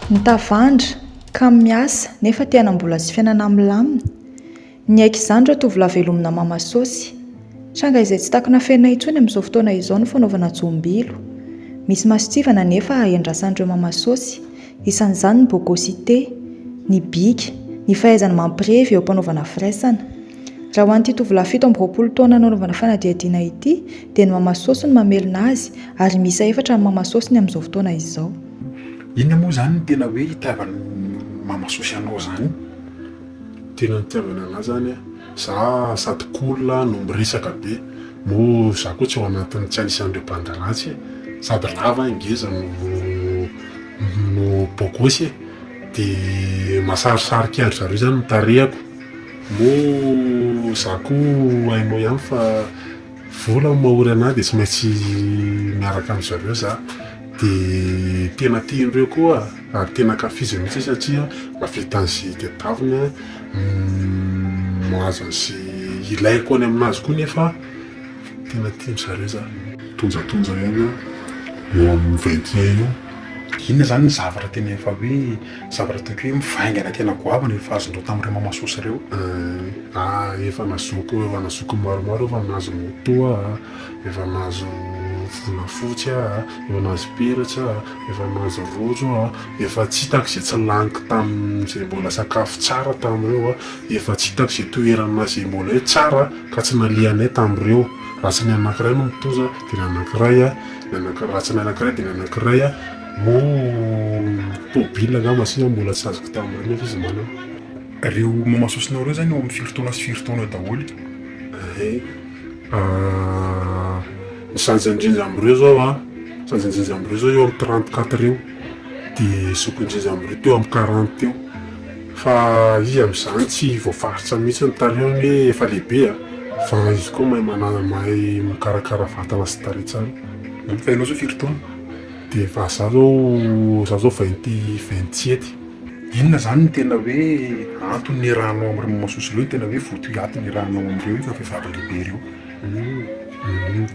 Mitavandra, kamo miasa, nefa te hanam-bola sy fiainana milamina? Niaiky izany ireo tovolahy velomina mamasôsy. Tranga izay tsy takona fenina intsony amin'izao fotoana izao ny fanaovana jombilo. Misy masontsivana anefa ahendrasan'ireo mamasôsy, isan'izany ny bôgôsite, ny bika, ny fahaizana mampirevy eo am-panaovana firaisana. Raha ho an'ity tovolahy fito amby roapolo taona nanaovana fanadihadiana ity, dia ny mamasôsy no mamelona azy ary miisa efatra ny mamasôsiny amin'izao fotoana izao. Inona moa izany no tena hoe itiavan'ny mamasôsy anao izany? Tena nitiavany an'ahy izany an! Za sady cool no miresaka be moa za koa tsy ao anatin'ny tsy anisan'ireo banda ratsy e! Sady lava, ngeza no no beau gosse e! Dia masarisarika an-dry zareo izany ny tarehiko moa za koa hainao ihany fa Vola ho mahory anah dia tsy maintsy miaraka amin zareo zah dia tena tiany reo koa ary tena ankafiziny mihitsy satria mahavita ny ze tadiaviny an mahazo ny ze ilaiko any aminazy koa nefa tena tiany zareo zah. Tonjatonja ihany an eo amin'ny vingt et un io. Inona zany ny zavatra tena efa hoe. Zavatra toy hoe mivaingana tena goavana efa azonao tamin'ireo mamasosy ireo. Ahh efa nazoko efa nazoko maromaro efa nahazo moto ah, efa nahazo volafotsy ah, efa nahazo peratra ah, efa nahazo rojo ah, efa tsy hitako izay tsy laniko tamin'izay mbola sakafo tsara tamin'ireo ah, efa tsy hitako izay toerana izay mbola hoe tsara ka tsy nalehanay tamin'ireo, raha tsy ny anankiray no mitoza dia ny anankiray ah, ny anankiray raha tsy ny anankiray dia ny anankiray ah. Moa tôbila nga ma sina mbola tsy azoko tam reo nefa izy manana. Reo mamasosonao reo zany eo am firy taona sy firy taona eo daholo? Ehe ahh ny saja indrindra am reo zao an, saja indrindra am reo zao eo am trente quatre eo, de zoky indrindra am reo teo am quarante teo, fa izy am zany tsy voafaritra mihitsy ny tarehiny hoe efa lehibe an, fa izy koa mahay manana mahay mikarakara vatana sy tarehy tsara. Fa enao zao firy taona? Dia efa za zao, za zao vingt vingt sept, inona zany no tena hoe antony niarahanao am reo masosy reo, tena hoe votoaty niarahanao am reo efa vehivavy lehibe reo? Humm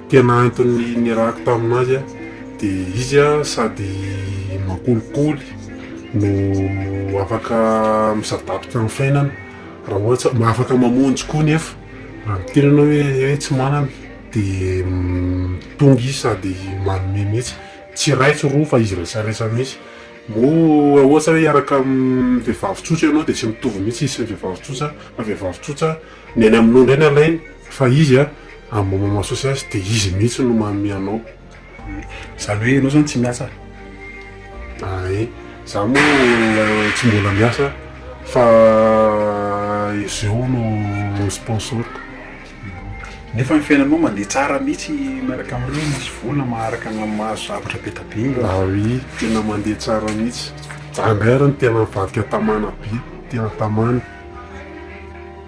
tena antony niarahako taminazy an, de izy an sady makolikoly no afaka mi s'adapte am fiainana, raha ohatra, afaka mamonjy koa nefa, raha miteny enao hoe tsy manana. dia tonga izy sady manome mihitsy, tsy ray tsy roa fa izy resadresaka mihitsy, moa raha ohatra hoe hiaraka amin'ny vehivavy tsotra ianao dia tsy mitovy mihitsy izy sy ny vehivavy tsotra, fa ny vehivavy tsotra ny any aminao indray no alainy fa izy an, amin'ny moment mahasoa sy azy dia izy mihitsy no manome anao. Zany hoe ianao zany tsy miasa? Ay, za moa euh, tsy mbola miasa fa izy io no sponsor-ko. Nefa ny fiainanao mandeha tsara mihitsy miaraka amin'ny hoe misy vola maharaka na mahazo zavatra be dia be. Ah oui, tena mandeha tsara mihitsy. Za indray ary no tena nivadika tamana be, tena tamana.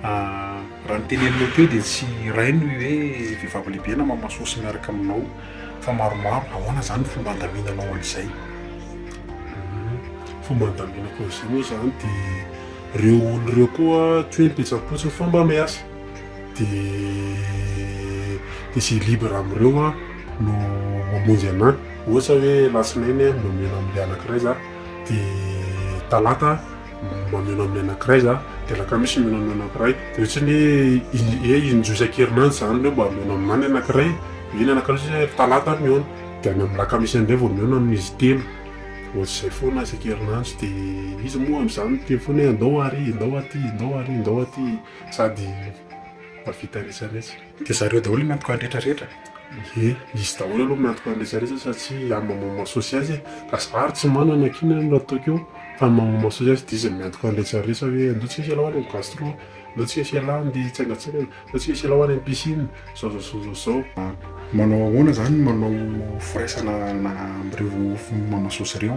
Ah. Raha ny teny aloha teo dia tsy iray no hoe vehivavy lehibe na mama sosy miaraka aminao fa maromaro, ahoana izany ny fomba handaminanao an'izay? Fomba handaminako an'izay moa izany dia ireo olona ireo koa tsy hoe mipetsa-potsiny fa mba miasa dia izay libre amin'ireo aho no mamonjy anà, ohatra hoe alatsinainy aho miara-mandeha anankiray zà dia talata. mameno amin'ny anankiray za de alakamisy meno amin'ny anankiray de ohatrany hoe e injo isan-kerinandro zany reo mba meno aminà ny anankiray de ny anankiray zany hoe talata no mihaona de any amin'ny lakamisy any ndray vao mihaona amin'izy telo ohatr'izay foana isan-kerinandro de izy moa amin'izany miteny foana hoe andao ary indao aty indao ary indao aty sady mahavita resadresa Dia zareo daholo ny antokany rehetra rehetra? Ie, izy daholo aloha no antokany rehetra rehetra satria amin'ny maha mouvement sosy azy e! Ka za ary tsy manana akia ny anona ataoko eo fa ny maha mouvement sosy azy dia izy no miantokany rehetra rehetra hoe andao tsika hialao any amin'ny gastro, andao tsika hialà andeha hitsangatsangana, andao tsika hialao any amin'ny piscine, zao zao zao zao zao. Manao ahoana zany ny manao firaisana amin'ireo maman sosy ireo?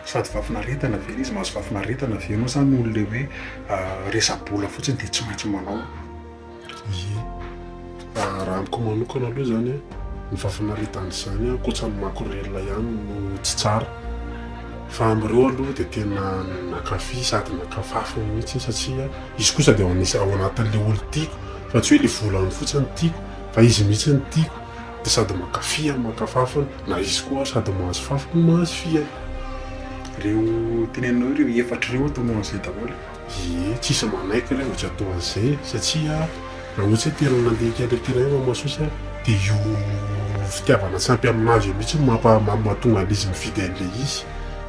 Sady fahafinaretana ve le izy, mahazo fahafinaretana ve ianao sa noho le hoe resa-bola fotsiny dia tsy maintsy manao? Ie. Raha amiko manokana aloha izany an, ny fafinaritan'izany an, ankoatra ny makorelina ihany no tsy tsara. Fa amin'ireo aloha dia tena nankafy sady nankafafy mihitsy satria izy kosa dia ao anisan'ny, ao anatin'ilay olon-tiako fa tsy hoe ilay volany fotsiny no tiako fa izy mihitsy no tiako dia sady mankafy an, mankafafy an, na izy koa sady mahazo fafy no mahazo fy an. Ireo teneninao ireo efatra ireo tonga ao amin'izay daholo e. Ie tsisy manaiky refa tsy atao an'izay e, satria raha ohatra hoe tena nandeha kendriky iray Mamasosa a, de io fitiavana tsy ampy amin'azy io mihitsy no mampa- mahatonga an'izy mividy an'ilay izy,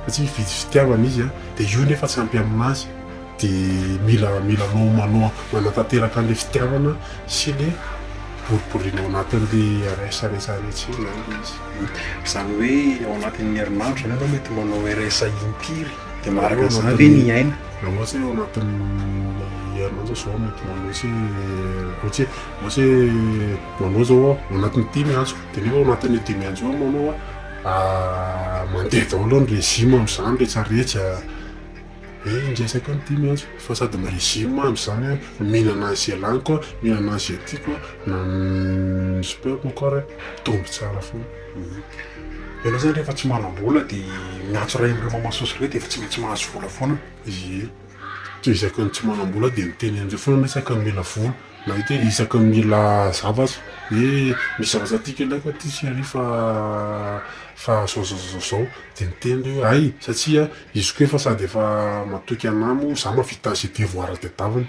satria mividy fitiavana izy a, de io nefa tsy ampy amin'azy, de mila mila anao manao manatanteraka an'ilay fitiavana sy le boriboriana ao anatin'ilay RS rehetrarehetra io zany le izy. Zany hoe ao anatin'ny herinandro zany anao mety manao RS impiry? Dia manaraka an'izany ve ny aina? Raha ohatra hoe ao anatin'ny herinandro izao mety manohy hoe ohatra hoe ohatra hoe manao izao aho ao anatin'ny dimy andro, dia nefa ao anatin'io dimy andro io manao hoe mandeha daholo ny régime amin'izany rehetra rehetra, dia iny resaka ny dimy andro fa sady mi-régime aho amin'izany an, mihinana an'izay laniko an, mihinana an'izay tiako an, na ny sport-ko ary an, mitombo tsara foana. Ianao zany rehefa tsy manam-bola de miantso iray amin'ireo mama sosy ireo de efa tsy maintsy mahazo vola foana? Ie, toa isaky ny tsy manam-bola dia miteny an'ireo foana na isaky ny mila vola na hoe tena isaky ny mila zava aza hoe misy zavatra tiako ilaiko aty sy ary fa fa zao zao zao zao de miteny ireo hoe hay satsia izy koa efa sady efa matoky anah moa za mahavita ze devoara tedaviny.